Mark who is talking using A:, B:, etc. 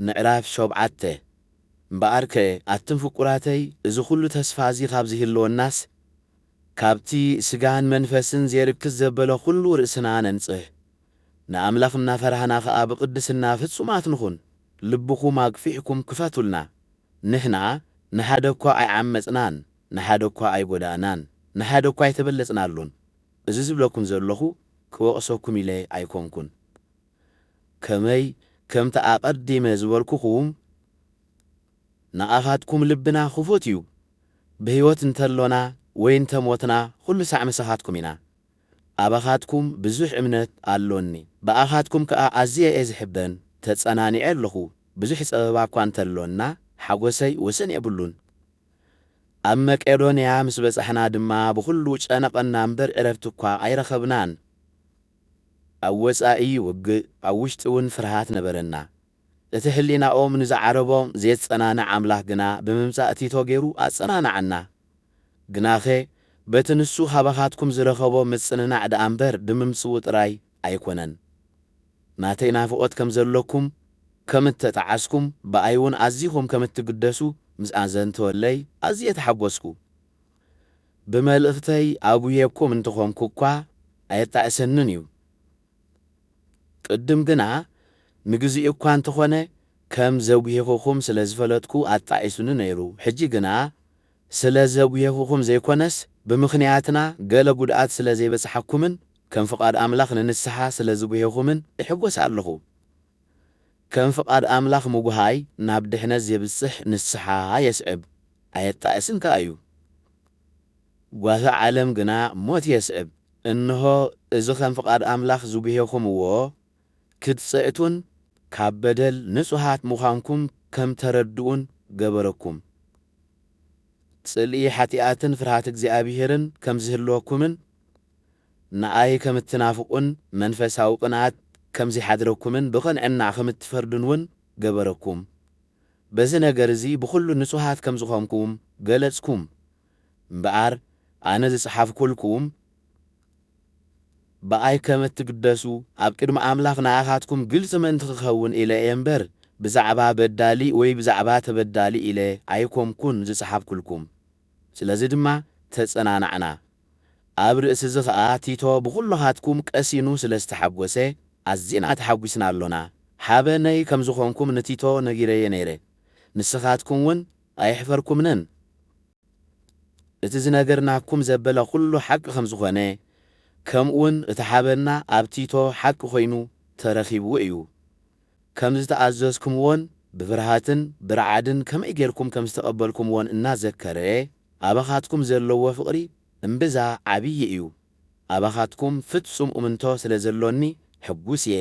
A: ምዕራፍ ሾብዓተ፣ እምበኣርከ ኣቱም ፍቁራተይ እዚ ዅሉ ተስፋ እዚ ኻብ ዚህልወናስ፣ ካብቲ ስጋን መንፈስን ዜርክስ ዘበለ ዅሉ ርእስና ነንጽህ፣ ንኣምላኽ እናፈራህና ኸኣ ብቕድስና ፍጹማት ንኹን፣ ልብኹም ኣግፊሕኩም ክፈቱልና፣ ንሕና ንሓደ እኳ ኣይዓመጽናን፣ ንሓደ እኳ ኣይጐዳእናን፣ ንሓደ እኳ ኣይተበለጽናሉን፣ እዚ ዝብለኩም ዘሎኹ ክወቕሰኩም ኢለ ኣይኰንኩን። ከመይ ከምቲ ኣቐዲመ ዝበልኩኹም ንኣኻትኩም ልብና ክፉት እዩ፣ ብህይወት እንተሎና ወይ እንተ ሞትና ኹሉ ሳዕ ምሳኻትኩም ኢና። ኣባኻትኩም ብዙሕ እምነት ኣሎኒ፣ ብኣኻትኩም ከኣ ኣዝየ እየ ዝሕበን፣ ተጸናኒዐ ኣለኹ፣ ብዙሕ ጸበባ እኳ እንተሎና ሓጐሰይ ወሰን የብሉን። ኣብ መቄዶንያ ምስ በጻሕና ድማ ብኹሉ ጨነቐና እምበር ዕረፍቲ እኳ ኣይረኸብናን። ኣብ ወጻኢ ውግእ ኣብ ውሽጢ ውን ፍርሃት ነበረና እቲ ሕሊናኦም ንዝዓረቦም ዜጸናንዕ ኣምላኽ ግና ብምምጻእ ቲቶ ጌሩ ኣጸናንዓና ግናኸ በቲ ንሱ ኻባኻትኩም ዝረኸቦ ምጽንናዕ ደኣ እምበር ብምምጽኡ ጥራይ ኣይኮነን ናተይ ናፍቖት ከም ዘሎኩም ከም እተጠዓስኩም ብኣይ ውን ኣዚኹም ከም እትግደሱ ምስ ኣዘንተወለይ ኣዝየ ተሓጎስኩ። ብመልእኽተይ ኣጉህየኩም እንተኾንኩ እኳ ኣየጣዕሰንን እዩ። ቅድም ግና ንግዚኡ እኳ እንተኾነ ከም ዘጉሄኹኹም ስለ ዝፈለጥኩ ኣጣዒሱኒ ነይሩ። ሕጂ ግና ስለ ዘጉሄኹኹም ዘይኮነስ ብምኽንያትና ገለ ጉድኣት ስለ ዘይበጽሓኩምን ከም ፍቓድ ኣምላኽ ንንስሓ ስለ ዝጉሄኹምን እሕጎስ ኣለኹ። ከም ፍቓድ ኣምላኽ ምጕሃይ ናብ ድሕነት ዜብጽሕ ንስሓ የስዕብ፣ ኣየጣእስን ከኣ እዩ። ጓሂ ዓለም ግና ሞት የስዕብ። እንሆ፣ እዚ ኸም ፍቓድ ኣምላኽ ዝጕሄኹምዎ፣ ክትጽዕቱን ካብ በደል ንጹሃት ምዃንኩም ከም እተረድኡን ገበረኩም። ጽልኢ ሓጢኣትን ፍርሃት እግዚኣብሄርን ከም ዚህልወኩምን፣ ንኣይ ከም እትናፍቑን መንፈሳዊ ቕንኣት ከም ዚሓድረኩምን ብቕንዕና ኸም እትፈርዱን እውን ገበረኩም። በዚ ነገር እዚ ብዅሉ ንጹሃት ከም ዝዀንኩም ገለጽኩም። እምበኣር ኣነ ዝጸሓፍኩልኩም ብኣይ ከም እትግደሱ ኣብ ቅድሚ ኣምላኽ ንኣኻትኩም ግልጺ ምእንቲ ኽከውን ኢለ እየ እምበር፣ ብዛዕባ በዳሊ ወይ ብዛዕባ ተበዳሊ ኢለ ኣይኰንኩን ዝጸሓፍኩልኩም። ስለዚ ድማ ተጸናናዕና። ኣብ ርእሲዚ ከኣ ቲቶ ብኩሎኻትኩም ቀሲኑ ስለ ዝተሓጎሰ ኣዚና ተሓጒስና ኣሎና። ሓበነይ ከም ዝኾንኩም ንቲቶ ነጊረዮ ነይረ፣ ንስኻትኩም ውን ኣየሕፈርኩምንን። እቲ ዝነገርናኩም ዘበለ ኩሉ ሓቂ ከም ዝኾነ ከምኡውን እቲ ሓበንና ኣብ ቲቶ ሓቂ ኮይኑ ተረኺቡ እዩ። ከም ዝተኣዘዝኩምዎን ብፍርሃትን ብርዓድን ከመይ ጌርኩም ከም ዝተቐበልኩምዎን እናዘከረ፣ ኣባኻትኩም ዘለዎ ፍቕሪ እምብዛ ዓብዪ እዩ፣ ኣባኻትኩም ፍጹም እምንቶ ስለ ዘሎኒ ሕጉስ እየ።